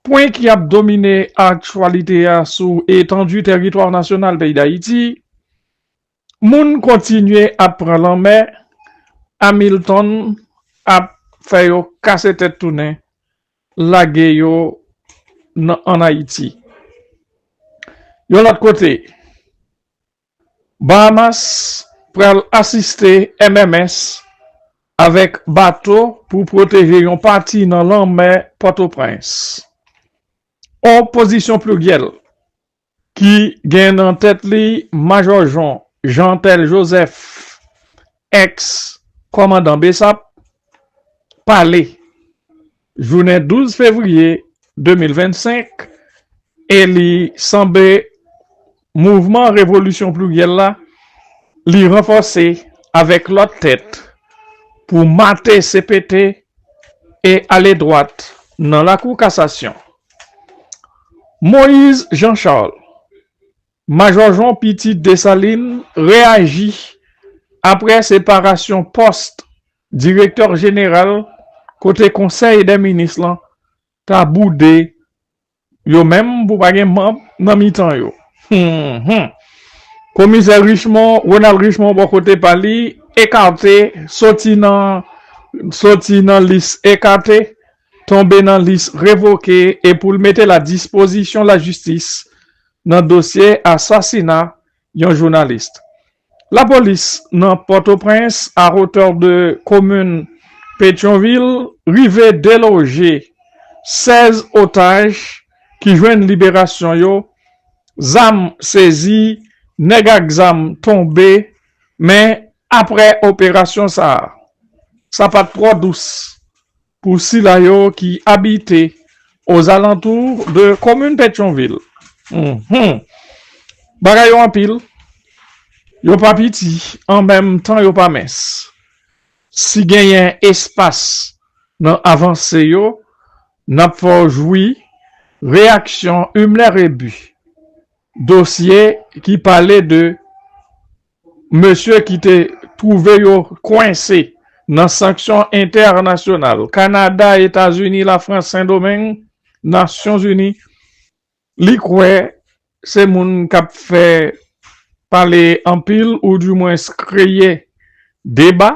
Pwen ki ap domine aktyalite a sou etandu teritwa nasyonal peyi Dayiti, Moun kontinye ap pran lanmè, Hamilton ap fè yo kase tèt tounen lage yo nan an Ayiti. Yon lòt kote, Bahamas pral asiste MMS avèk bato pou pwoteje yon pati nan lanmè Pòtoprens. On pozisyon pliryèl ki gen nan tèt li Majò Jon Jean Tel Joseph Ex kòmandan bsap pale jounen 12 fevriye 2025 e li sanble mouvman revolisyon pliryèl la li ranfòse avèk lòt tèt pou mate cpt e ale dwat nan lakou kasasyon. Moise Jean Charles Majò Jon Piti Desalin reyaji aprè separasyon pòs direktè jeneral kote konsèy dè minis lan ta boude yo menm pou pa gen manb nan mitan yo humm komisè Richemond Ronald Richemond bò kote pa li ekate soti nan soti nan lis ekate tonbe nan lis revoke e pou l mete l a dispozisyon lajistis nan dosye asasina yon jounalist. Lapolis nan Pòtoprens a hotè de komin Petyonvil rive deloje 16 otaj ki jwenn liberasyon yo, zam sezi, nèg ak zam tonbe men aprè operasyon sa a, sa pat twò dous. Pou sila yo ki abite ozalantou de komin Petyonvil, bagay yo anpil, yo pa piti an menm tan yo pa mens. Si genyen espas nan avanse yo, n ap fè w jwi reyaksyon Himler Rébu, dosye ki pale de mesye ki te twouve yo kwense nan sanksyon entènasyonal, Kanada, Etazini, Lafrans, Sendomeng, Nasyonzini, li kwè se moun k ap fè pale anpil ou di mwens kreye deba,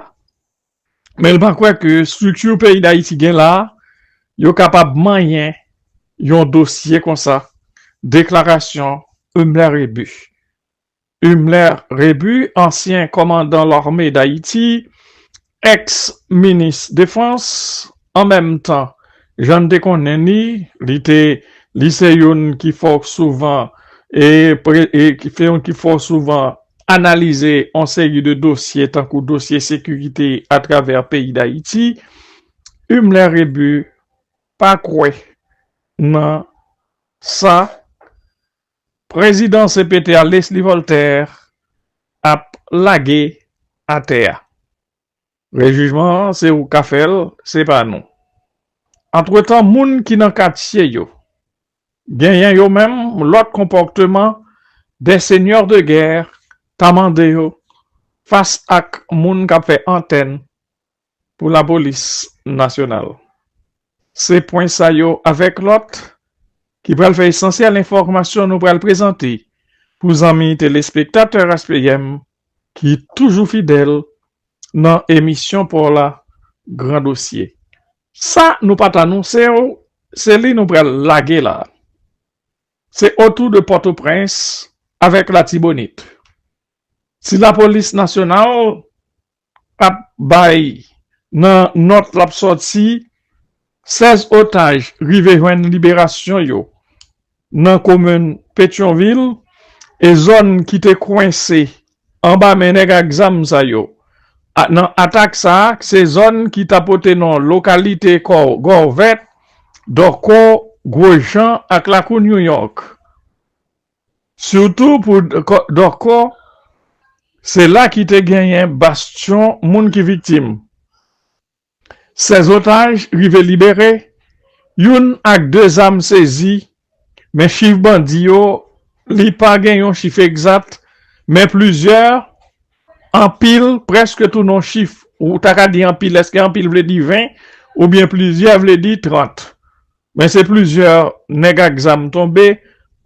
men li pa kwè ke estrikti peyi Dayiti gen la a, yo kapab manyen yon dosye konsa, deklarasyon Humler Rébu. Himler Rebu, ansyen kòmandan lame Dayiti, èks minis defans, an menm tan, jan n te konnen li, li te li se youn ki fò souvan e se youn ki fò souvan analize yon seri de dosye tankou dosye sekirite atravè peyi Dayiti, Himler Rebu pa kwè nan sa. Prezidan cpt a Leslie Voltaire ap lage atè a. Rejijman an se ou ka fè l se pa nou. Antretan moun ki nan katye yo genyen yo menm lòt konpòteman des seigneurs de guerre ta mande yo fas ak moun k ap fè antèn pou lapolis nasyonal. Se pwen sa yo avèk lòt ki pral fè esansyèl enfòmasyon nou pral prezante pou zanmi telespektatè Ras PM ki toujou fidèl nan emisyon pa w la Gran Dosye. Sa nou pa t anonse w, se li nou pral lage la. Se otou de Pòtoprens avèk Latibonit. Si lapolis nasyonal ap bay nan nòt lap sòti 16 otaj rive jwenn liberasyon yo nan komin Petyonvil e zòn ki te kwense anba men nèg ak zam sa yo nan atak sa se zòn ki ta pote non lokalite Gòvèt, Dòkò, Gwojan ak Lakou New York. Sitou pou Dorco, se la ki te genyen bastyon moun ki viktim. 16 otaj rive libere, youn ak 2 zam sezi, men chif bandi yo, li pa gen yon chif egzat, men plizyè, anpil, prèske tou non chif, ou ta ka di anpil, èske anpil vle di 20 oubyen plizyè vle di 30? Men se plizyè nèg ak zam tonbe,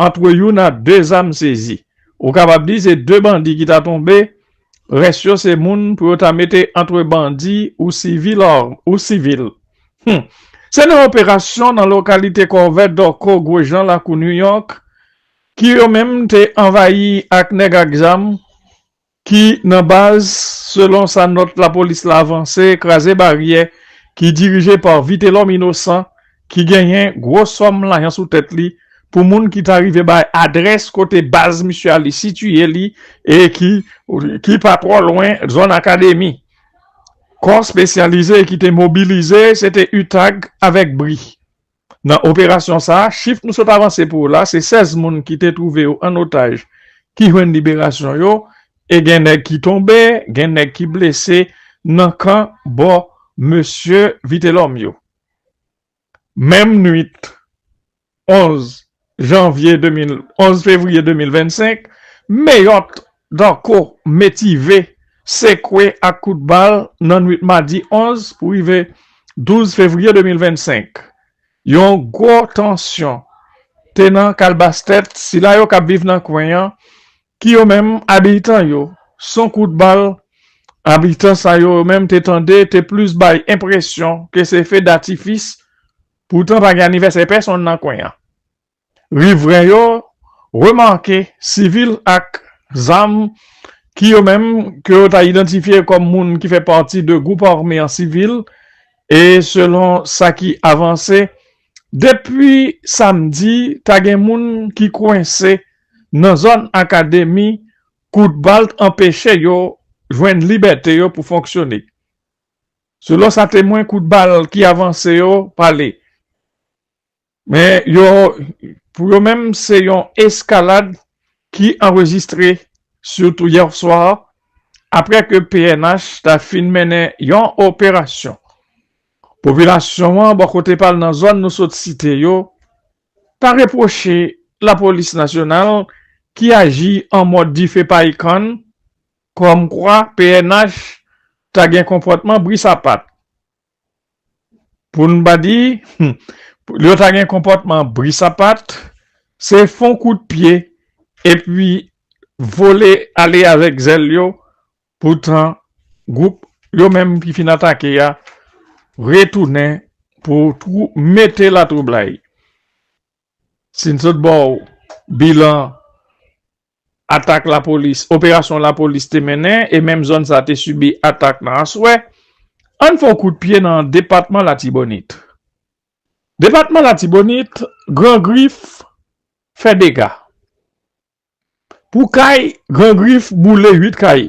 antre youn a 2 zam sezi. Ou kapab di se 2 bandi ki ta tonbe, rès yo se moun pou yo ta mete antre bandi ou sivil ou sivil. Hum! Se nan yon operasyon nan lokalite Kòve Dòko Gwojan Lakou New York ki yo menm te anvayi ak nèg ak zam, ki nan baz, selon sa nòt lapolis la vanse, kraze baryè ki dirije pa Vitelòm Inosan ki genyen gwo sòm lajan sou tèt li pou moun ki ta rive bay adrès kote baz misye a li sitiye li e ki ki pa twò lwen zòn akademi. Kò spesyalize ki te mobilize se te utag avèk bri. Nan operasyon sa a, chif nou sot avanse pou ou la, se 16 moun ki te twouve yo an otaj ki jwenn liberasyon yo e gen nèg ki tonbe, gen nèg ki blese nan kan bò mesye Vitelòm yo. Menm nwit 11 Janvye 2011 fevriye 2025, Meyòt, Danko, Metive, sekwe ak kout bal nan nwit madi 11 pou rive 12 fevriye 2025. Yon gwo tansyon te nan kalbas tèt sila yo k ap viv nan kwen an ki yo menm abitan yo son kout bal abitan sa yo yo menm te tande te plis bay enpresyon ke se fe datifis Poutan pa gen anivèsè pèsonn nan kwen an. Rivren yo remake sivil ak zam ki yo menm ke yo ta idantifye kòm moun ki fè pati de gwoup ame an sivil e selon sa ki avanse depi samdi ta gen moun ki kwense nan zòn akademi kout bal t anpeche yo jwenn libète yo pou fonksyone. Selon sa temwen kout bal ki avanse yo pale, men yo pou yo menm se yon eskalad ki anrejistre sitou yè swa apre ke pnh ta fin mennen yon operasyon. Popilasyon an bò kote pal nan zòn nou sot site yo ta repwoche lapolis nasyonal ki aji an mòd dife pa ikann Kòmkwa pnh ta gen konpòtman bri sapat. Pou n pa di, yo ta gen konpòtman bri sapat, se fon kout pye epi vole ale avèk zèl yo, poutan gwoup yo menm ki fin atake a retounen pou mete latwoublay. Si n sot bò bilan atak lapolis, operasyon lapolis te mennen e menm zòn sa te sibi atak nan aswè, ann fè yon kout pye nan depatman Latibonit. Depatman Latibonit, Gran Grif fè dega. Pou kay, Gran Grif boule 8 kay.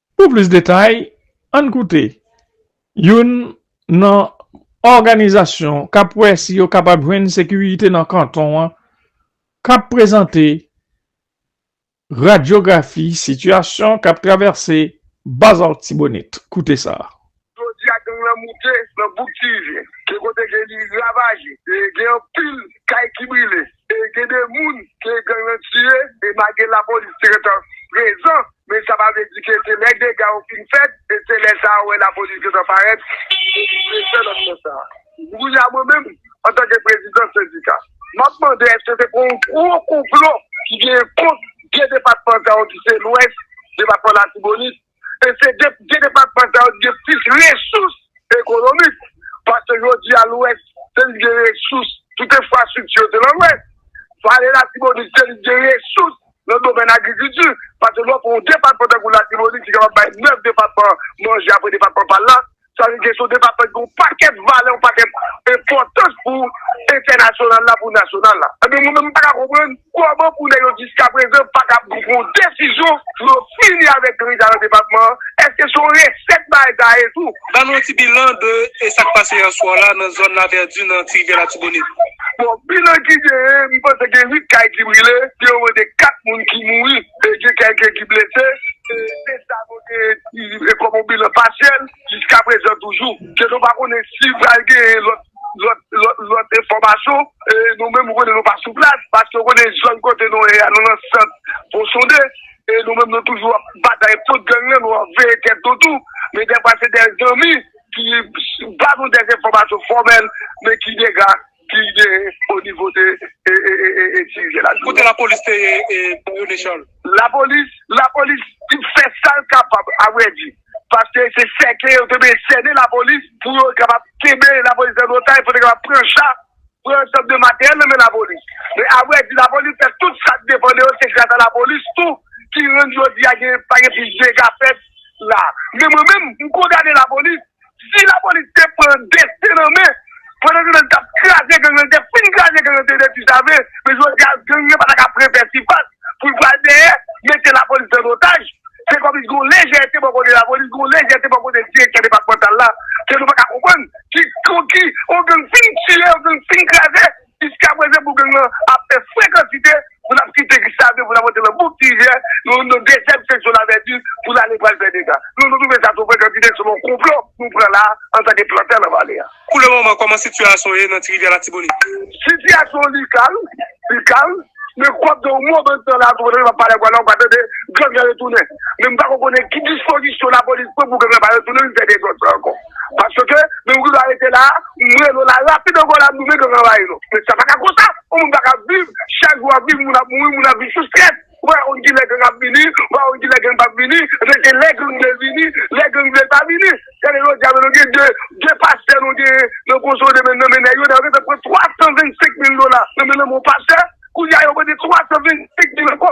Pou plis detay, ann koute youn nan òganizasyon k ap wè si yo kapab jwenn sekirite nan kanton an k ap prezante radyografi sitiyasyon k ap travèse Bas Artibonite. Koute sa. Jodi a gang lan moute nan bouk Tivyen. Gen kote ke li ravaje. Gen anpil kay ki brile. Gen de moun ke gang lan tiye. E malgre lapolis te gentan prezan, men sa pa vle di ke se lè dega yo fin fèt, e se lè sa ou wè lapolis gentan parèt e li prezan nan moman sa a. Kounye a mwen menm, antanke prezidan sendika, m ap mande èske se pa yon gwo konplo ki genyen kont de depatman sa yo ki se Lwès, depatman Latibonit? E se 2 depatman sa yo ki gen plis resous ekonomik. Paske jodi a lwès se li ki gen resous tout enfrastrikti yo se nan lwès. Vale latibonit se li ki gen resous nan domèn agrikilti. Paske lè w pran yon depatman tankou latibonit ki kapab bay 9 depatman manje apre depatman pa l la. Sa vle di se yon depatman ki gen yon pakèt valè, yon pakèt enpòtans pou entènasyonal la, pou nasyonal la. Ebyen mwen menm m pa ka konprann kòman pou nèg yo jiskaprezan pa ka pran yon desizyon pou yo fini avèk gang sa yo nan depatman an. Èske se yon resèt bagay sa ye tou? Ban nou yon ti bilan de e sa k pase yè swa la nan zòn Lavèdi nan Ti Rivyè Latibonit. Bon, bilan ki genyen, m panse gen 8 kay ki brile, gen yon mwen de 4 moun ki mouri. E gen kèk ki blese, se sa nou te di kòm yon bilan pasyèl jiska prezan toujou. Ke nou pa konnen si pral genyen lòt enfòmasyon. Nou menm nou konnen nou pa sou plas, paske ou konnen zòn kote nou ye a, nou nan sant Fonsonde. E nou menm nou toujou ap batay kont gang lan, nou ap veye tèt nou tou. Men dèfwa se dè zanmi ki ba nou dè enfòmasyon fòmèl, men ki dega ki genyen o nivo de Tirivye la. Kote lapolis te ye René Charles? Lapolis, lapolis fè sa l kapab a vrè di. Paske se sèke yo te vle sènen lapolis pou yo kapab kenbe lapolis an otay pou yo te kapab pran cha, pran ansanm de materyèl nan men lapolis. Men a vrè di lapolis fè tout sa k depan de yo, se gras a lapolis tou ki rann jodi a pa gen plis dega fèt la. Men mwen menm, m kondane lapolis. Si lapolis te pran desten nan men pandan ke li tap kraze gang nan li te fin kraze gang nan se de ti save men jodi a gang nan pata ka prevè sifas pou l pral dèyè mete lapolis an otaj se kòmsi gen yon lejète bò kote lapolis gen yon lejète bò kote direktè depatmantal la ke nou paka konprann ki yon gang fin tiye yon gang fin kraze. Jiska prezan pou gang lan ap fè fre kantite pou nap kite Gustave pou nap antre nan bouk Tigè nou nan dezyèm seksyon lavèti pou nale pral fè dega. Nou nou twouve sa two fre kantite selon konplo nou pran la antanke plantè nan vale a. Pou le moman kòman sitiyasyon ye nan Tirivyè Latibonit? Sitiyasyon li kalm, li kalm, men kou ap gen yon mo bann tan la tou pandan nap pale ak ou a la ou ka tande gang lan retounen. Men m pako konnen ki dispozisyon lapolis pran pou gang lan pa retounen vin fè dezòd sa ankò. Paske menm kou la rete la, m rele w la rapid ankò la nou menm k ap anvayi nou. Men sa pa ka konsa, yon moun pa ka viv, chak jou w ap viv moun ap mouri, moun ap viv sou strès. Ou pa ka konn ki lè gang ap vini, ou pa ka konn ki lè gang p ap vini, men se lè gang vle l vini, lè gang vle l pa vini. Gade jodi a menm nou gen 2, 2 pastè nou gen nan Goso de menm nan men nèg yo, nèg yo gentan pran 325 mil dola nan men lanmen yon pastè, kounye a yo mande 325 mil ankò.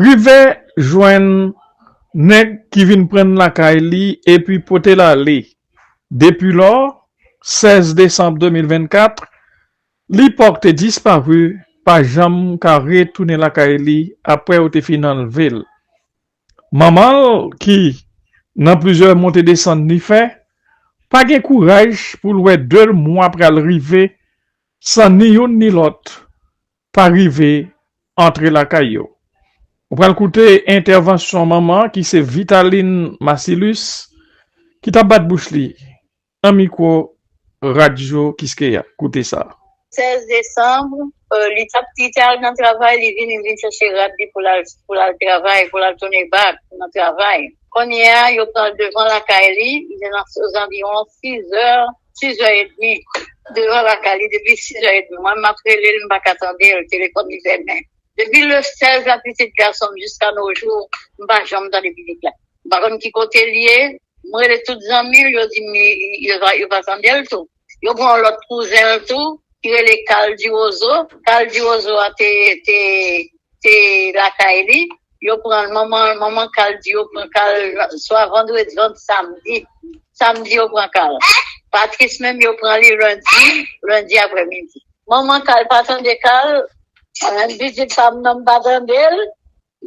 Rive jwenn nèg ki vin pran n lakay li epi pote l ale. Depilò, 16 desanm 2024, Lipòk te disparu, pa janm ka retounen lakay li apre yo te fin anlve l. Manman l ki, nan plizyè monte desann li fè, pa gen kouraj pou l wè 2 mwa pral rive san ni youn ni lòt pa rive antre lakay yo. Ou pral koute entèvansyon manman ki se Vitaline Masilus ki t ap bat bouch li nan mikwo Radyo Kiskeya. Koute sa. 16 desanm, li t ap li te al nan travay, li vin, li vin chèche rad li pou l al pou l al travay, pou l al tounen bak nan travay. Kounye a, yo pran devan lakay li, li te nan ozanviwon 6 zè 6 è edmi devan lakay li depi 6 è edmi mwen map relel m paka tandel telefòn li fèmen depi le 16 la pitit gasonm jiska no jou m pa janm tande pitit la m pa konn ki kote li ye m rele tout zanmil yo dim li yo pa tandel tou yo pran yon lòt kouzenl tou ki rele kal diwozo kal diwozo a te te te lakay li yo pran l manman l manman kal di yo pran kal swa vandredi swa samdi samdi yo pran kal Patrice menm yo pran li lendi lendi aprè midi manman kal pa tande kal an piti pa m nan m pa tande l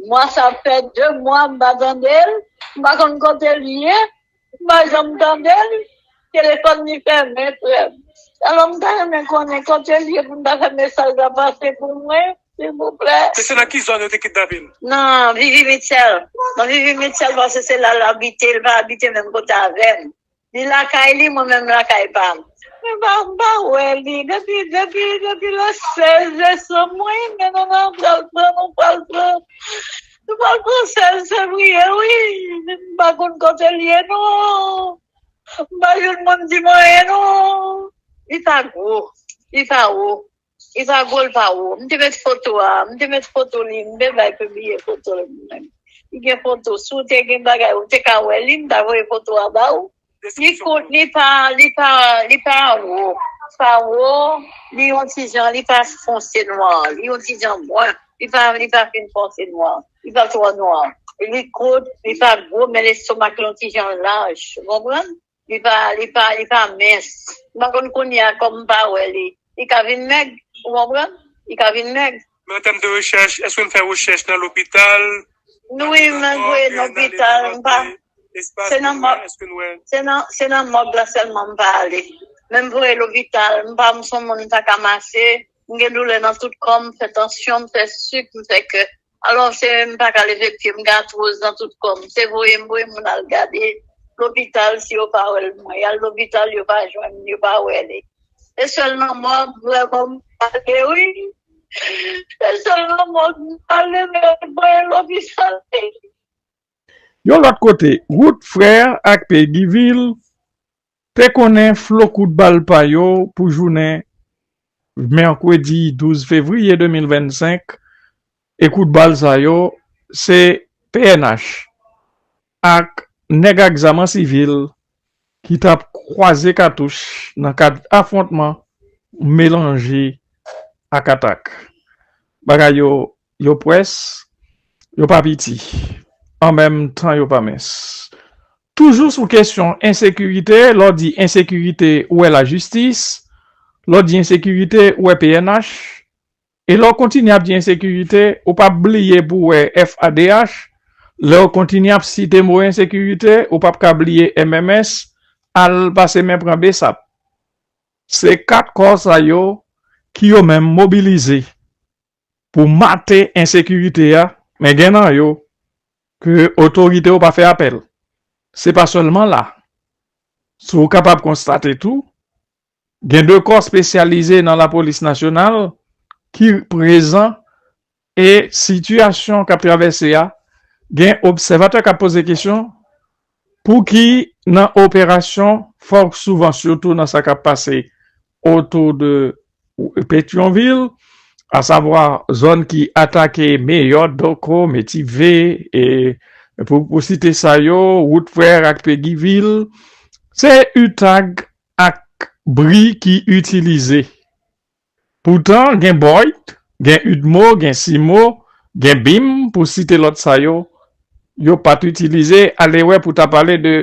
mwa sa fè 2 mwa m pa tande l m pa konn kote l ye M pa janm tande l, telefòn li fèmen frè m. Alò m ta renmen konnen kote l ye pou m ta fè mesaj la pase pou mwen silvouplè. E se nan ki zòn yo te kidnape l? Nan Vivi Mitchell. Nan Vivi Mitchell paske se la l abite, li pa abite menm kote avè m. Li lakay li, mwen menm m lakay pa m. Mwen pa, m pa wè li depi, depi, depi le 16 desanm. Mwen renmen nou nan pral pran, nou pral pran M pa konn sa l se priye wi. M pa konn kote l ye non. M pa jwenn moun di m anyen non. Li pa gwo. Li pa wo. Li pa gwo, li pa wo. M te met foto a. M te met foto li. M te bay pibliye foto l. Li gen foto. Si w te gen bagay ou te ka wè li. M ta voye foto a ba ou. Li kout li pa li pa li pa wo pa wo li yon ti jan li pa fonse nwa li yon ti jan bwen li pa li pa fin fonse nwa li pa twò nwa li kout li pa gwo men lestomak li yon ti jan laj ou konprann li pa li pa li pa mens m pa konn kounye a kòm m pa wè li li ka vin mèg ou konprann li ka vin mèg. Men an tèm de rechèch, èske n fè rechèch nan lopital? Wi men vre nan lopital m pa se nan mòg se nan mòg la sèlman m pa ale men m vre lopital m pa m son moun m pa ka mache m gen doulè nan tout kò m m fè tansyon m fè sik m fè kè alò se m pa ka leve pye m gen atwoz nan tout kò m se voye m voye moun al gade lopital si yo pa wè l mwen y al lopital yo pa jwenn m yo pa wè li. Se sèl manman an m vrèman m pale wi se sèl manman an m pale men yo t voye l lopital wi. Yon lòt kote, Ruth Frère ak Peggy Vil te konnen flo kout bal pa yo pou jounen mèkredi 12 fevriye 2025 e kout bal sa yo se pnh ak nèg ak zam an sivil ki t ap kwaze katouch nan kad afwontman melanje ak atak. Bagay yo, yo pwès, yo pa piti, an menm tan yo pa mens. Toujou sou kesyon ensekirite, lè w di ensekirite ou wè lajistis, lè w di ensekirite ou wè pnh, E lè w kontinye ap di ensekirite, ou p ap bliye pou wè FADH, lè w kontinye ap site mo ensekirite, ou p ap ka bliye MMS, al pase men pran bsap. Se 4 kò sa yo ki yo menm mobilize pou mate ensekirite a, men gen nan yo ke otorite yo pa fè apèl. Se pa sèlman la. Si w kapab konstate tou, Gen 2 kò spesyalize nan lapolis nasyonal ki prezan e sitiyasyon k ap travèse a gen obsèvatè k ap poze kesyon pou ki nan operasyon fò souvan sitou nan sa k ap pase otou de Petyonvil asavwa zòn ki atake Meyòt, Dòko, Metive e pou site sa yo wout frè ak Pegivil se utag ak bri ki itilize. Poutan gen Boyd, gen Udmo, gen Simo, gen Bim pou site lòt sa yo, yo pa t itilize alewè pou ta pale de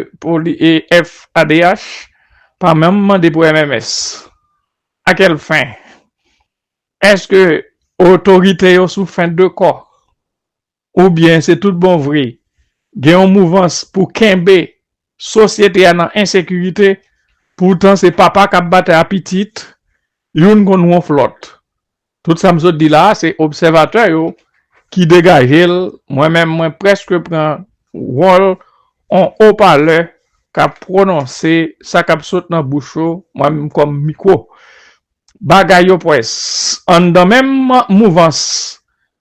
FAdH pa menm mande pou MMS. A kèl fen? Èske otorite yo sou fen de kò? Ou byen se tout bon vre gen yon mouvans pou kenbe sosyete a nan ensekirite poutan se papa kap batay a pitit youn konn wonf lòt tout sa m sot di la se obsèvatè yo ki degaje l mwen menm mwen prèske pran wòl on opalè kap pwononse sa kap sot nan bouch yo mwen menm kòm mikwo Bagay yo pwès anndan menm mouvans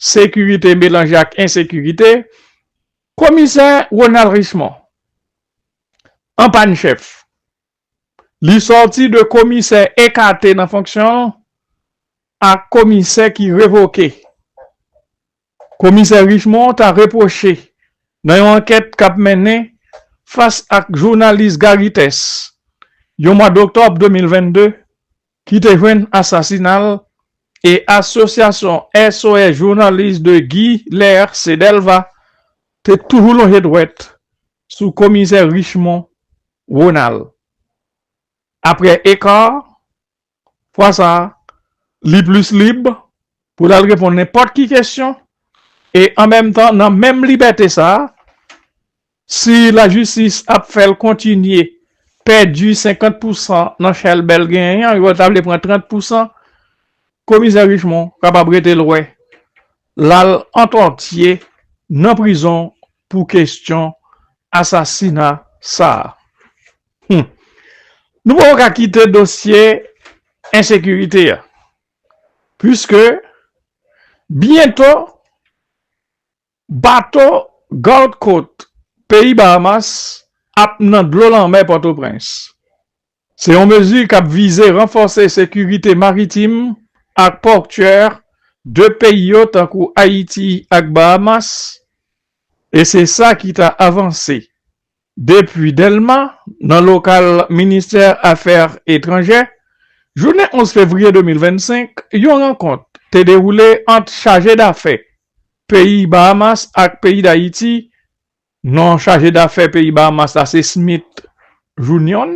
sekirite melanje ak ensekirite, komisè Ronald Richemond an pàn chèf. Li sòti de komisè ekate nan fonksyon a komisè ki revoke. Komisè Richemond ta repwoche nan yon ankèt k ap mennen fas ak jounalis Garry Thès yon mwa doktòb 2022 ki te jwenn asasina l e asosyasyon SOS Journalistes de Guy Lair Cedelva te toujou lonje dwèt sou komisè Richemond Ronald aprè Ecart Fwa sa a, li plis lib pou l al reponn nenpòt ki kesyon e an menm tan nan menm libète sa a, si lajistis ap fè l kontinye pèdi 50 pou san nan chèlbè l genyen an, yo ta vle pran 30 pou san, Komisè Richemond kapab rete lwen, l al antòtye nan prizon pou kesyon asasina sa a. Humm nou poko ka kite dosye ensekirite a puiske byento bato Gard Kot peyi Bahamas ap nan dlo lanmè Pòtoprens. Se yon mezi k ap vize ranfòse sekirite maritim ak pòtyè 2 peyi yo tankou Ayiti ak Bahamas e se sa ki ta avanse Depi Dèlma, nan lokal ministè afè etranjè, jounen 11 fevriye 2025, yon rankont te dewoule ant chaje dafè peyi Bahamas ak peyi Dayiti, non chaje dafè peyi Bahamas la se Smith Junion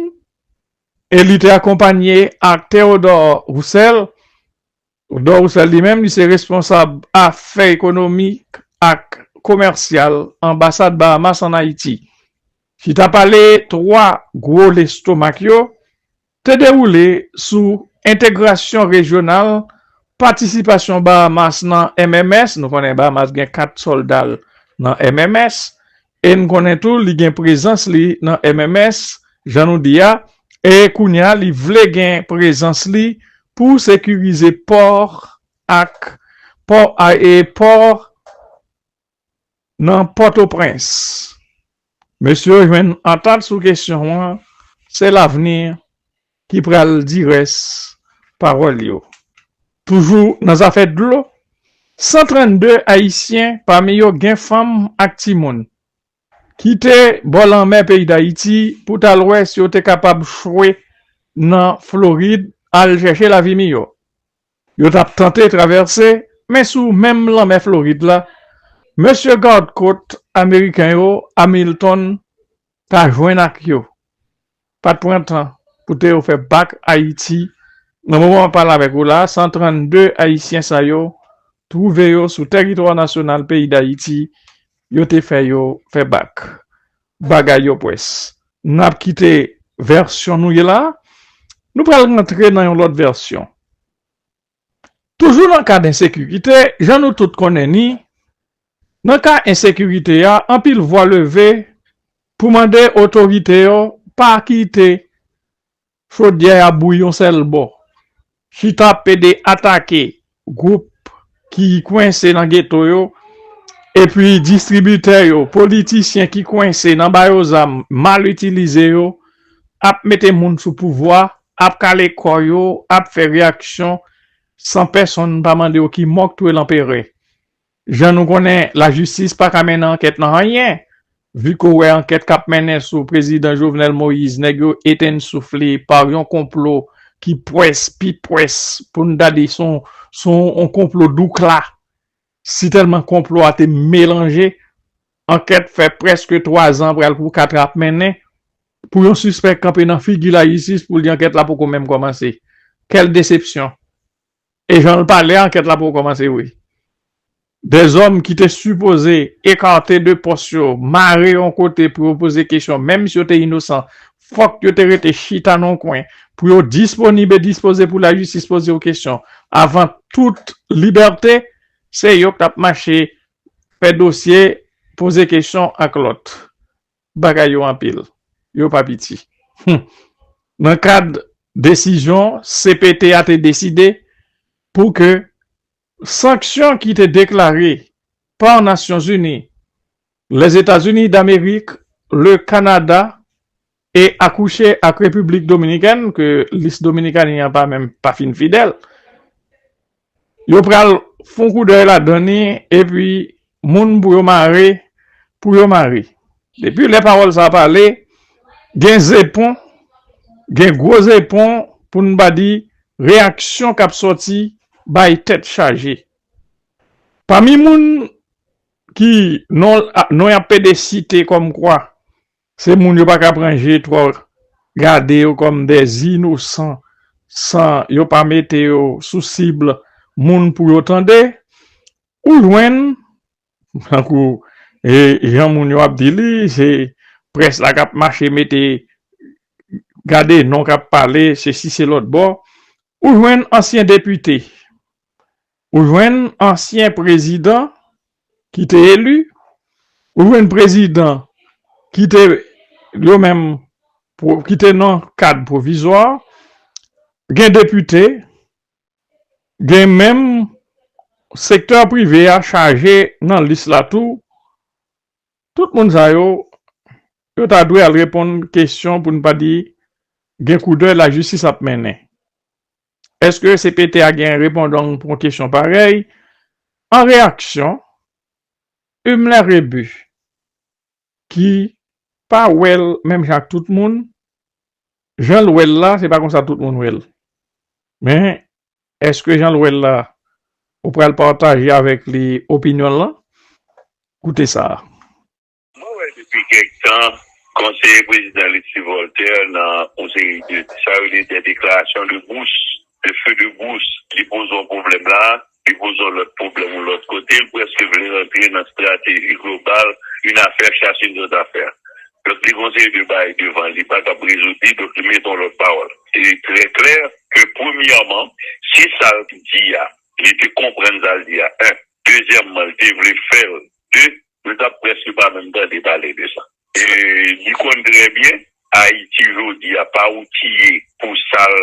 e li te akonpanye ak Theodore Roussel, Odò Roussel li menm li se responsab afè ekonomik ak komèsyal anbasad Bahamas an Ayiti. Chita pale 3 gwo lestomak yo te dewoule sou entegrasyon rejyonal, patisipasyon Bahamas nan MMS, nou konnen Bahamas gen 4 sòlda l nan MMS, E n konnen tou li gen prezans li nan MMS, jan nou di a, e kounye a li vle gen prezans li pou sekirize pò ak pò e pò nan Pòtoprens. Mesye yo jwenn antant sou kesyon an, se lavni. ki pral di rès pawòl yo. Toujou nan zafè dlo, 132 ayisyen pami yo gen fanm ak timoun, kite bò lanmè peyi Dayiti pou t al wè si yo te kapab chwe nan Florid al chèche lavi miyò. Yo t ap tante travèse, men sou menm lanmè Florid la, mesye gad kot ameriken yo, Hamilton, ta jwenn ak yo. pat pran tan pou te yo fè bak Ayiti nan moman map pale avèk ou la 132 ayisyen sa yo twouve yo sou tèritwa nasyonal peyi Dayiti yo te fè yo fè bak bagay yo pwès nap kite vèsyon nou ye la nou pral rantre nan yon lòt vèsyon. Toujou nan kad ensekirite, jan nou tout konnen ni, nan ka ensekirite a, anpil vwa leve pou mande otorite yo pa kite chodyè a bouyi yon sèl bò, chita pede atake gwoup ki kwense nan geto yo, epi distribitè yo, politisyen ki kwense nan ba yo zam, mal itilize yo, ap mete moun sou pouvwa, ap kale kò yo, ap fè reyaksyon san pèsonn pa mande yo ki mò k touye lanperè. Jan nou konnen, lajistis pa ka mennen ankèt nan anyen, vi ke w wè ankèt k ap mennen sou prezidan Jovenel Moïse, nèg yo etenn souf li pa yon konplo ki pwès, pi pwès pou n ta di s on konplo doukla Si tèlman konplo a te melanje, ankèt fè prèske 3 zan pral pou 4 ap mennen, pou yon sispèk kanpe nan figi lajistis pou l di ankèt la poko menm kòmanse. Kèl desepsyon! E jan l pale a ankèt la poko kòmanse wi. De zòm ki te sipoze ekate de pòs yo, mare yon kote pou yo poze kesyon menm si yo te inosan fòk yo te rete chita nan yon kwen pou yo disponib e dispoze pou lajistis poze yo kesyon avan tout libète, se yo k t ap mache fè dosye, poze kesyon ak lòt. Bagay yo anpil, yo pa piti. Hum! Nan kad desizyon cpt a te deside pou ke Sanksyon ki te deklare pa Nasyonzini, Lèzetazini Damerik, Le Kanada e akouche ak Repiblik Dominikèn ke lis Dominikani an pa menm pa fin fidèl, yo pral fon koudèy ladan li epi Moun pou yo mare, pou yo mare. Depi lè pawòl sa a pale, gen zepon, gen gwo zepon pou n pa di reyaksyon k ap sòti bay tèt chaje. Pami moun ki non y ap pede site kòmkwa se moun yo pa ka pran je twò gade yo kòm dè inosan san yo pa mete yo sou sib moun pou yo tande, Ou jwenn, tankou jan moun yo ap di li, se près la k ap mache mete, gade non k ap pale sesi se lòtbò, ou jwenn ansyen depite, ou jwenn ansyen prezidan ki te eli, ou jwenn prezidan ki te yo menm ki te nan kad pwovizwa, gen depite Gen menm sektè prive a chaje nan lis la tou, tout moun sa yo, yo ta dwe al reponn kesyon pou n pa di gen koudèy lajistis ap mennen. Eske cpt a gen repondong pou yon kesyon parèy? An reyaksyon, Humler Rebu, ki pa wè l menm jan ak tout moun, jan l wè l la se pa konsa tout moun wè l. Men, èske jan l wè l la ou pral pataje avèk li opinyon l lan? Koute sa a. Mwen wè depi kèk tan konseye prezidan Alexis Voltaire nan yon seri de sa yo rele des déclarations de brousse, de feu de brousse, li poze yon pwoblèm la Li poze yon lòt pwoblèm yon lòt kote, li prèske vle rantre nan strateji global, yn afè chache yn zòt afè. Donk li gen yon seri de bagay devan li pa kab rezoud li, donk li mete yon lòt pawòl. Li trè klè ke premyèman, si sa l t di a, li te konprann sa l di a 1. Dezyèmman, li te vle fè l 2. Nou tap preske pa menm tande pale de sa. Li konn trè byen Ayiti jodi a pa outiye pou sal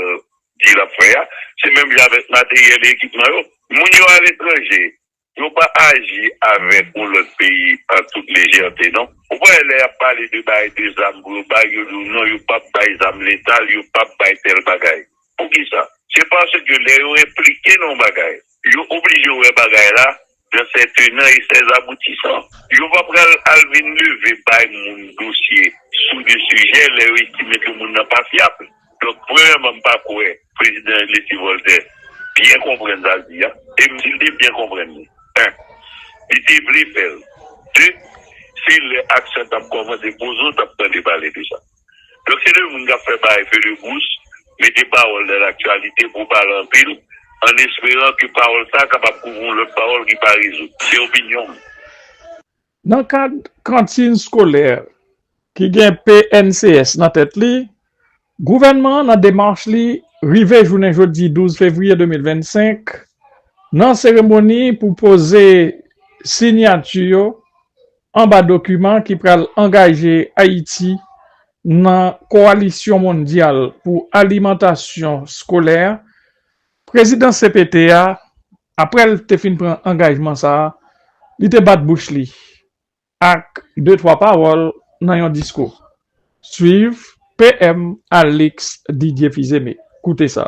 di lap fè a. Se menm jan avèk materyèl e ekipman yo. Moun yo aletranje yo pa aji avèk yon lòt peyi an tout lejète non. Ou pa wè lè yap pale de bay de zam pou yo bay yo di w non yo pap bay zam letal yo pap bay tèl bagay. Poukisa? Se paske lè yo enplike nan yon bagay, yo oblije wè bagay la nan sè tenan e sè zaboutisan. Yo pa pral al vin leve bay moun dosye sou de sijè lè yo estime ke moun nan pa fyab. Donk, premyèman, m pa kwè Prezidan Leslie Voltaire byen konprann sa l di a. E m si l te byen konprann li, 1 li te vle fè l, 2 se lè aksyon t ap kòmanse poze w t ap tande pale de sa. Yo se 2 moun kap fè bay feu de bous, mete pawòl nan laktyalite pou pale anpil, an esperan ke pawòl sa kapab kouvri yon lòt pawòl ki pa rezoud. Se opinyon m. Nan kad kantin skolè ki gen PNCS nan tèt li, gouvènman an nan demach li rive jounen jodi 12 fevriye 2025 nan seremoni pou poze sinyati yo Anba dokiman ki pral angaje Ayiti nan Kowalisyon Mondyal pou Alimantasyon Skolè, prezidan cpt a, aprè l te fin pran angajman sa a, li te bat bouch li ak de twa pawòl nan yon diskou. Swiv PM Alix Didier Fils-Aimé. Koute sa.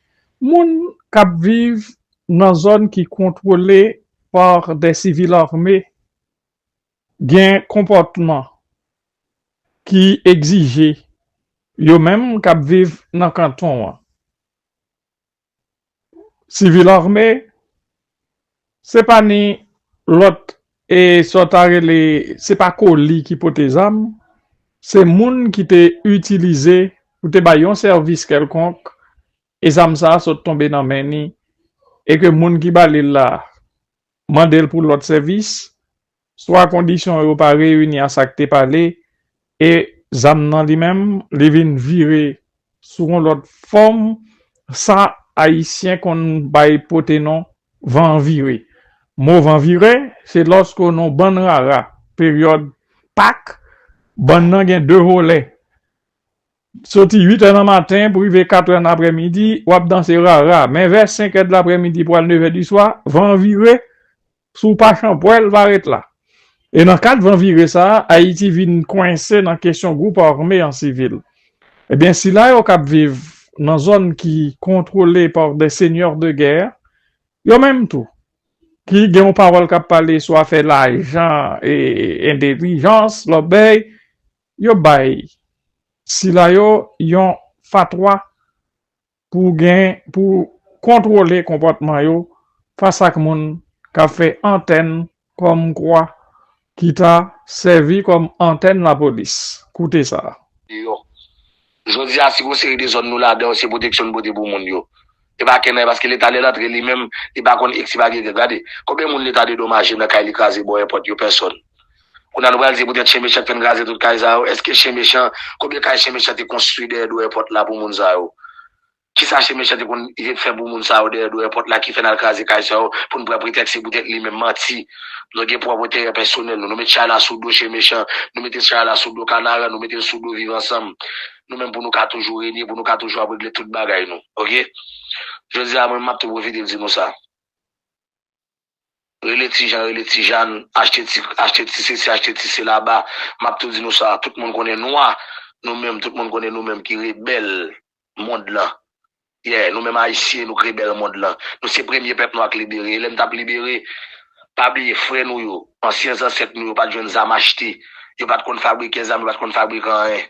Moun kap viv nan zòn ki kontwole par des civils armés gen konpòtman ki egzije yo menm kap viv nan kanton an. Civil armé. Se pa ni lòt e sa w ta rele se pa koli ki pote zam, se moun ki te itilize pou te bay yon sèvis kèlkonk e zam sa a sot tonbe nan men ni e ke moun ki ba li l la mande l pou lòt sèvis Swa kondisyon yo pa reyini a sa k te pale e zam nan li menm li vin vire sou yon lòt fòm sa ayisyen konn bay pote non van vire. Mo van vire se lòske nan bann rara peryòd pak bann nan gen de volè soti 8 è nan maten pou rive 4 è nan aprèmidi w ap danse rara men vè 5 è de laprèmidi pou al 9 è di swa van vire Si w pa chanpwè l va ret la. E nan kad van vire sa a, Ayiti vin kwense nan kesyon gwoup ame an sivil. Ebyen sila yo k ap viv nan zòn ki kontwole pa des seigneurs de guerre, yo menm tou, ki gen yon pawòl k ap pale sou afè lajan e entelijans, lòbèy, yo bay sila yo yon fatwa Pou gen pou kontwole konpòtman yo fas ak moun k ap fè antèn kòmkwa ki ta sèvi kòm antèn lapolis. Koute sa. Deyò. Jodi a, si gon seri de zòn nou ladan yo se pwoteksyon n pote pou moun yo. E pa kennay paske leta lè l antre li menm li pa konn eg si pa ge gè. Gade, konbyen moun leta dedomaje nan kay li kraze bò e pòt yo? Pèsòn. Kounya nou pral di poutèt chen mechan k fè n kraze tout kay sa yo. Èske chen mechan, konbyen kay chen mechan te konstwi dèyè dwòyè pòt la pou moun sa yo? Kisa chen mechan te konn fè pou moun sa yo dèyè dwòyè pòt la ki fè n al kraze kay sa yo pou n pran pretèks se poutèt li menm? Manti! Nou gen pwòp enterè pèsonèl nou. Nou met chay la sou do chen mechan, nou mete chay la sou do kanaran, nou mete l sou do viv ansanm nou menm pou nou ka toujou renye, pou nou ka toujou ap regle tout bagay nou. Ok? Jodi a mwen menm m ap tou pwofite di nou sa. Rele ti Jan, rele ti Jann, achte ti, achte ti sesi, achte ti sela ba, m ap tou di nou sa, tout moun konnen nou a, nou menm, tout moun konnen nou menm ki rebèl mond lan. Yè, nou menm Ayisyen, nou k rebèl mond lan. Nou se premye pèp nwa k libere. E lè n t ap libere, pa bliye frè nou yo, ansyen zansèt nou yo pa t jwenn zam achte. Yo pa t konn fabrike zam, yo pa t konn fabrike anyen.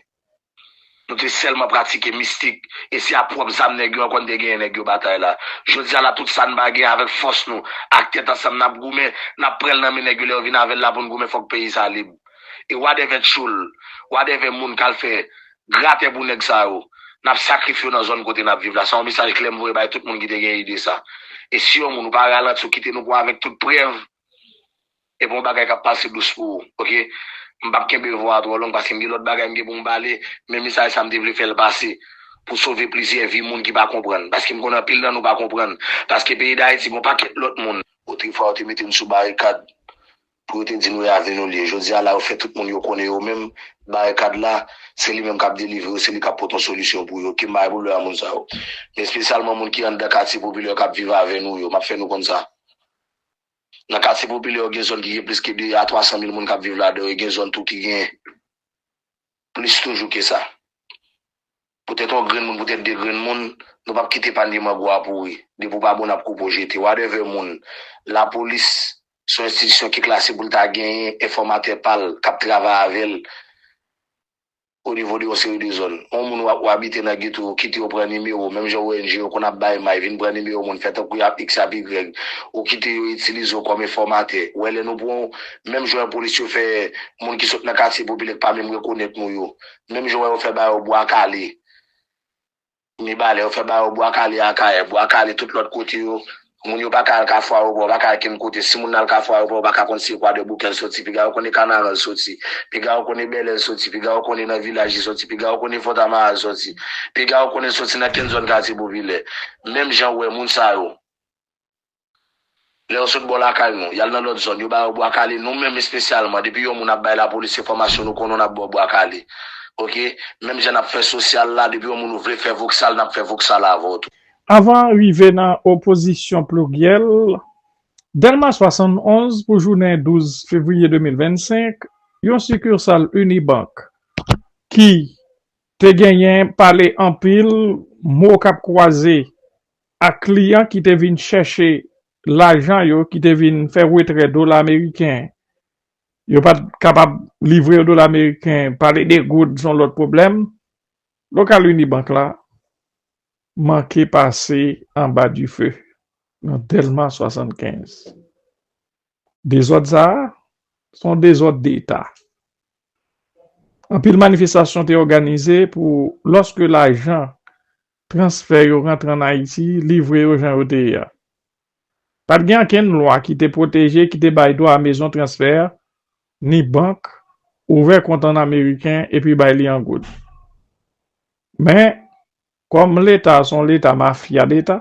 Nou te sèlman pratike mistik e se a pwòp zam nèg yo an konn te genyen nèg yo batay la. Jodi a la tout sa n pa gen avèk fòs nou ak tèt ansanm n ap goumen, n ap pran l nan men nèg yo lè yo vin avè l la pou n goumen fòk peyi sa lib. E wadèvè tchoul, wadèvè moun k al fè gratè pou nèg sa yo, n ap sakrifye yo nan zòn kote n ap viv la. Sa yon mesaj klè m voye bay tout moun ki te gen ide sa. E si yon moun ou pa ralanti ou kite nou pou avèk tout prèv. E gon bagay kap pase dous pou ou ok m pap kenbe vwa a twò long paske m gen lòt bagay m gen pou m pale men mesaj sa m te vle fè l pase pou sove plizyè vi moun ki pa konprann paske m konnen anpil nan nou pa konprann paske peyi dayiti gon pakèt lòt moun otrefwa yo te mete n sou barikad pou yo te di nou e avni nou li ye jodi a la yo fè tout moun yo konnen yo menm barikad la se li menm kap delivre yo se li kap pot yon solisyon pou yo ke m bay pwoblèm a moun sa yo men espesyalman moun ki anndan katye popilè kap viv avè nou yo map fè nou konn sa. Nan katye popilè yo gen zòn ki gen plis ke 2 a 300 mil moun k ap viv ladan yo, e gen zòn tou ki gen plis toujou ke sa. Poutèt yon grenn moun, poutèt 2 grenn moun, nou p ap kite panye mango a pouri. Depi w pa bon, n ap koupe w jete. Wadèvè moun, lapolis se yon enstitisyon ki klase pou l ta genyen enfòmatè pa l k ap travay avè l. o nivo de yon seri de zòn. On moun ou abite nan geto yo kite yo pran nimewo menm jan ong yo konn ap bay may vin pran nimewo moun fè tankou y ap x y ap ygrèg ou kite yo itilize w kòm enfòmatè ou wè lè nou pran w menm jan lapolis yo fè moun ki sot nan katye popilè k pa menm rekonèt nou yo menm jan w wè yo fè ba yo bwa kale. Mibalè, yo fè ba yo Bwa Kale Akayè, Bwa Kale tout lòt kote yo, moun yo pa ka al Kafou Ayopò, yo pa ka al kenn kote. Si moun nan al Kafou Ayopò, yo pa ka konn si e Kwadèboukè l soti, piga yo konn e Kanaran l soti, piga yo konn e Bèlè l soti, piga yo konn e nan Vilaj li soti, piga yo konn e Fòtamara l soti, piga yo konn e l soti nan kenn zòn katye popilè. Menm jan ou wè moun sa yo. Lè yo sot bò lakay nou, y al nan lòt zòn, yo ba yo bwa kale, nou menm espesyalman, depi yon moun ap bay lapolis enfòmasyon nou konnen w n ap ba w bwa kale. Ok. Menm jan n ap fè sosyal la, depi yon moun ou vle fè voksal, n ap fè voksal avè w tou. Anvan rive nan opozisyon pliryèl, Dèlma 71 pou jounen 12 fevriye 2025, yon sikirsal Unibank ki te genyen pale anpil, mo k ap kwaze ak kliyan ki te vin chèche lajan yo ki te vin fè retrè dola meriken yo pat kapab livre yo dola meriken pale de goud son lòt pwoblèm lokal Unibank la manke pase anba dife nan Dèlma 75 dezòd sa son dezòd deta anpil manifestasyon te òganize pou lòske lajan transfè yo rantre an Ayiti, livre yo jan yo te ye a. Pa t gen ankenn lwa ki te pwoteje, ki te bay dwa a mezon transfè, ni bank, ouvè kont an ameriken epi bay li an goud. Men, kòm Leta a se yon Leta mafya deta,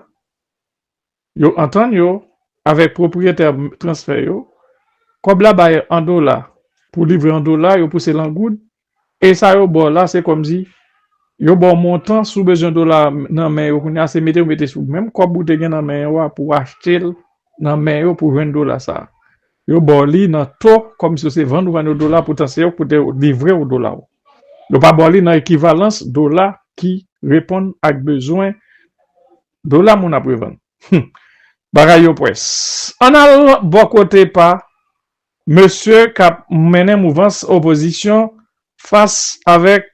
Yo antann yo avèk pwopriyetè transfè yo, kòb la bay an dola, pou livre an dola yo pouse l an goud, e sa yo ba w la se kòmsi yo ba w montan, si w bezwen dola nan men yo kounye a se mete ou mete sou menm kòb ou te gen nan men yo a pou w achte l nan men yo pou w jwenn dola sa a, yo ba w li nan to kòmsi yo se vann ou vann yo dola poutan se yo ki pou te livre w dola w, yo pa ba w li nan ekivalans dola ki reponn ak bezwen. Dola moun ap revann. Humm bagay yo pwès. Ann al bò kote pa mesye k ap mennen mouvans opozisyon fas avèk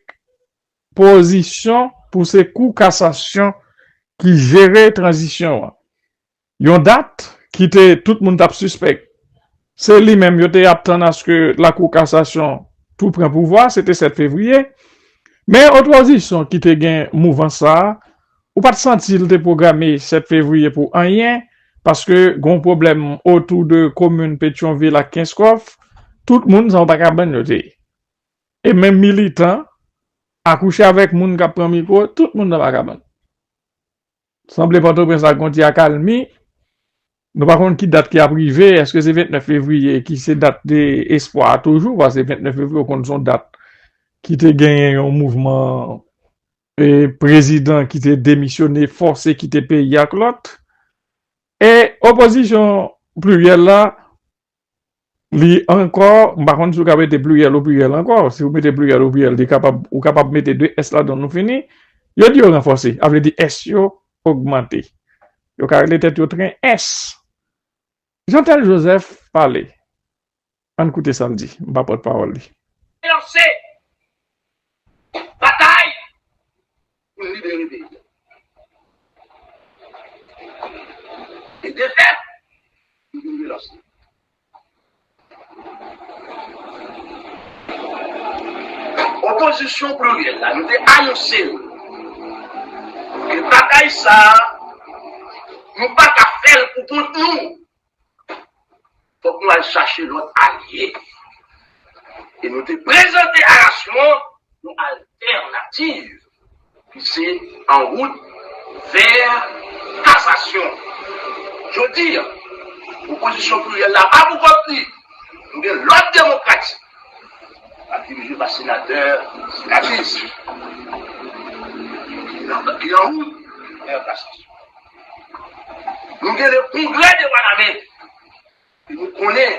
pozisyon pou se kou kasasyon ki jere tranzisyon an. Yon dat ki te tout moun t ap sispèk se li menm yo te ap tann aske lakou kasasyon tou pran pouvwa se te 7 fevriye. Men opozisyon ki te gen mouvans sa a Ou pat santi l te pwograme 7 fevriye pou anyen, paske gon pwoblèm otou de komin Petyonvil ak Kenskòf, tout moun san w pa kabann yo te ye. E menm militan, akouche avèk moun k ap pran mikwo, tout moun nan pa kabann. Sanble Pòtoprens la gon ti akalmi, nou pa konn ki dat ki ap rive, èske se 29 fevriye ki se dat espwa a toujou, pase 29 fevriye ou konn son dat ki te genyen yon mouvman prezidan ki te demisyone fòse kite peyi ak lòt e opozisyon pliryèl la li ankò m pa konn si w ka mete pliryèl ou pliryèl ankò si w mete pliryèl ou pliryèl li kapab ou kapab mete de s ladan l nou fini yo di yo ranfòse a vle di s yo ogmante yo ka rele tèt yo tren s Jeantel Joseph pale, ann koute sa l di, m pa pòtpawòl li. Lanse batay pou n libere peyi a. E defèt, li vin relanse. Opozisyon pliryèl la, nou te anonse l ke batay sa a, nou pa ka fè l pou kont nou. Fòk nou al chache lòt alye. E nou te prezante Arasmon yon altènativ. Se an wout vè kasasyon. Jodi, opozisyon pliryèl la pa pou kont li. Nou gen lòt demokrati k ap dirije pa senatè Katis ki an wout vè kasasyon. Nou gen le Kongrè de Wanament. Nou konnen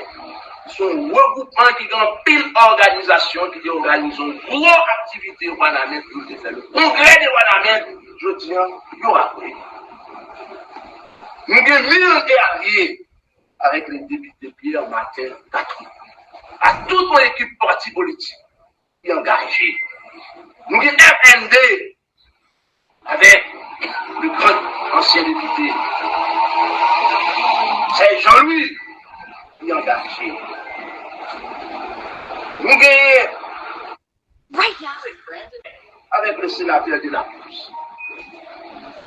se yon regwoupman ki gen anpil òganizasyon ki te òganize yon gwo aktivite Wanament pou yo te fè le Congrès de Wanament jodi an yo raple li. Nou gen mil e alye avèk le depite Pierre Martin Catry ak tout yon ekip pati politik ki angaje. Nou gen FND Avè de gran ansyen depite sè Jean Louis li angaje nou genyen avèk le senatè Delacruz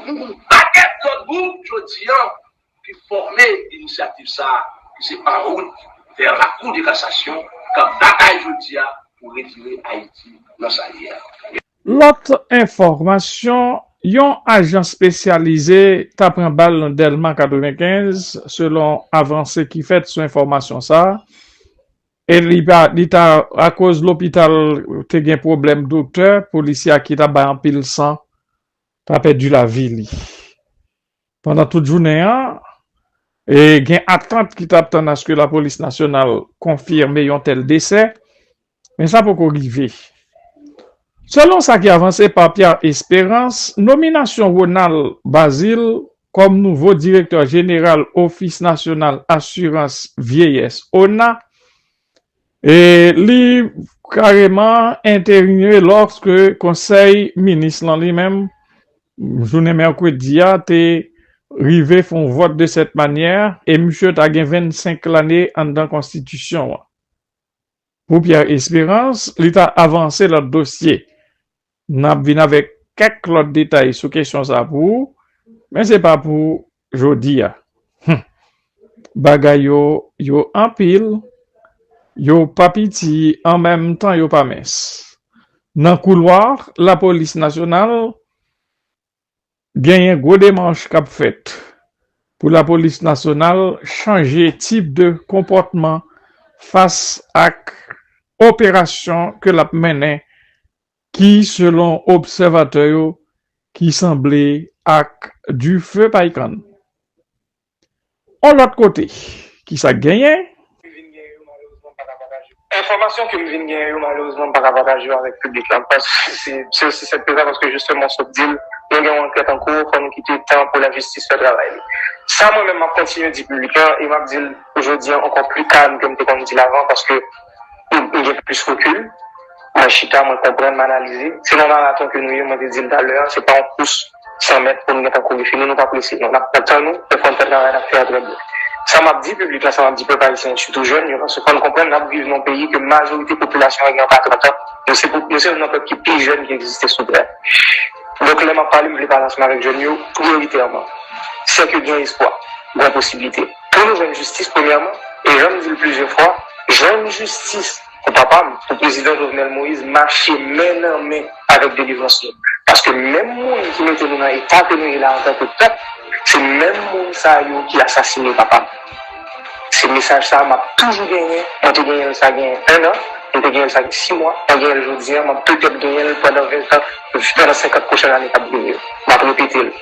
nou gen yon pakèt lòt gwoup jodi an ki fòme inisyativ sa a ki se Parout vè lakou de kasasyon k ap batay jodi a pou retire Ayiti nan sa l ye a. Lòt enfòmasyon, Yon ajan spesyalize ta pran bal nan Dèlma 95 selon avanse ki fèt sou enfòmasyon sa e li ta akoz lopital te gen pwoblèm doktè, polisye a ki ta bay anpil san ta pèdi lavi li. Pandan tout jounen an, gen atant ki t ap tann aske lapolis nasyonal konfime yon tèl desè, men sa poko rive. Selon sa ki avanse pa Pierre Espérance, nominasyon Ronald Bazile kòm nouvo direktè jeneral Ofis Nasyonal Asirans Vyeyès, ona, E li kareman entevinye lòske konsèy minis lan li menm jounen mèkredi a te rive fè yon vòt de sèt manyè e misye ta gen 25 lane anndan konstitisyon an. Pou Pierre Espérance, li ta avanse lòt dosye N ap vin avèk kèk lòt detay sou kesyon sa a pou ou, men se pa pou jodi a. Hum! Bagay yo, yo anpil, yo pa piti an menm tan yo pa mens. Nan koulwa lapolis nasyonal, Genyen gwo demach kap fèt pou lapolis nasyonal chanje tip de konpòtman fas ak operasyon ke lap mennen ki selon obsèvatè yo ki sanble ak dife paykann. On lòt kote, ki sa k genyen? Enfòmasyon ke m vin genyen yo, malerezman m pa ka pataje yo avèk piblik la, se osi senp ke sa, paske jisteman w sot di l, nou gen yon ankèt an kou, fò nou kite tan pou lajistis fè travay li. Sa mwen menm m ap kontinye di piblik la, e m ap di l jodi an ankò pli kalm ke m te konn di l avan, paske m gen plis rekil, mwen chita, mwen konprann, m analize, se nan maraton ke nou ye, mwen te di l talè a, se pa yon kous. 100 mèt pou nou gentan kouri fini, nou pa prese non, n ap pran tan nou, nou konn fè travay n ap fè a trè byen. Sa m ap di piblik la, sa m ap di pèp ayisyen an, sitou jèn yo, se fò n konprann n ap viv nan yon peyi ke majorite popilasyon an gen anba 30 an, nou se nou se youn nan pèp ki pi jèn ki egziste sou tè a. Donk lè m ap pale, m vle pale ansanm avèk jèn yo priyoritèman, sè ke gen espwa, gen posiblite pou nou jwenn jistis premyèman, e jan m di l plizyè fwa, jwenn jistis. Pou papa m, pou Prezidan Jovenel Moïse mache men nan men avèk delivrans nou. Paske menm moun ki mete nou nan eta ke nou ye la antanke pèp, se menm moun sa yo ki asasine papa m. Se mesaj sa a m ap toujou genyen, mwen te genyen l sa gen 1 an, m te genyen l sa gen 6 mwa, mwen genyen l jodi an, m ap petèt genyen l pandan 20 tan, pandan 50 pwochèn ane k ap vini yo. M ap repete l,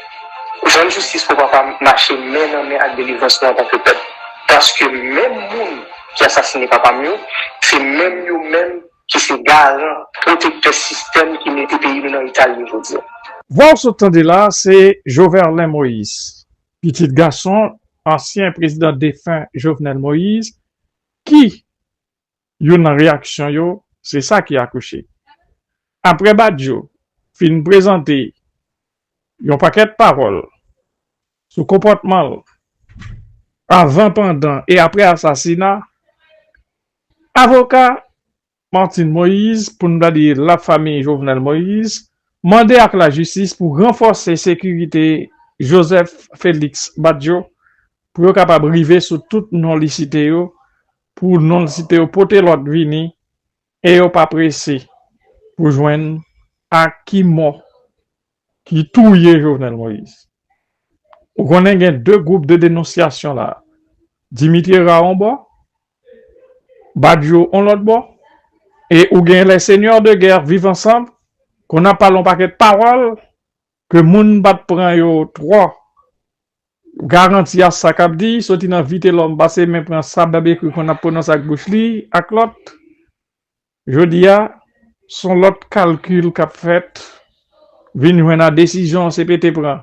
Jwenn jistis pou papa m mache men nan men ak delivrans nou antanke pèp. Paske menm moun. ki asasine papa m yo, se menm yo menm ki se garan, pwotektè sistèm ki mete peyi nou nan eta l ye jodi a. Vwa w sot tande la a se Joverlein Moïse, pitit gason ansyen prezidan defen Jovenel Moïse ki youn nan reyaksyon yo se sa ki akouche. Aprè Badio fin prezante yon pakèt pawòl sou konpòtman l avan, pandan e aprè asasina avoka Martine Moïse, pou n pa di la famiy Jovenel Moïse, mande ak lajistis pou ranfòse sekirite Joseph Félix Badio pou yo kapab rive sou tout non li site yo, pou non li site yo pote lòt vini E yo pa prese pou jwenn ak ki mò ki touye Jovenel Moïse. Ou konnen gen 2 gwoup de denonsyasyon la, Dimitri Herard on bò, Badio on lòt bò, e ou gen les seigneurs de guerre vivre ensemble, konn ap pale on pakèt pawòl Ke moun pa t pran yo twò garanti a sa k ap di, soti nan Vitelòm pase men pran sa Bèbekri konn ap pwononse ak bouch li ak lòt. Jodi a, s on lòt kalkil k ap fèt vin jwenn a desizyon cpt pran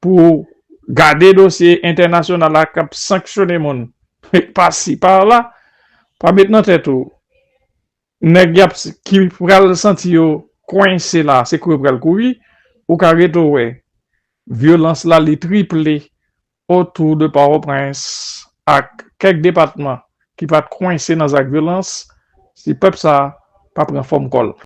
pou gade dosye entènasyonal la k ap sanksyone moun pasi pala. Pa met nan tèt ou Nèg yap ki pral santi yo kwense la se kou yo pral kouri ou ka ret ou wè vyolans la li triple otou de pòtoprens ak kèk depatman ki pat kwense nan zak vyolans si pèp sa pa pran fòm kòl.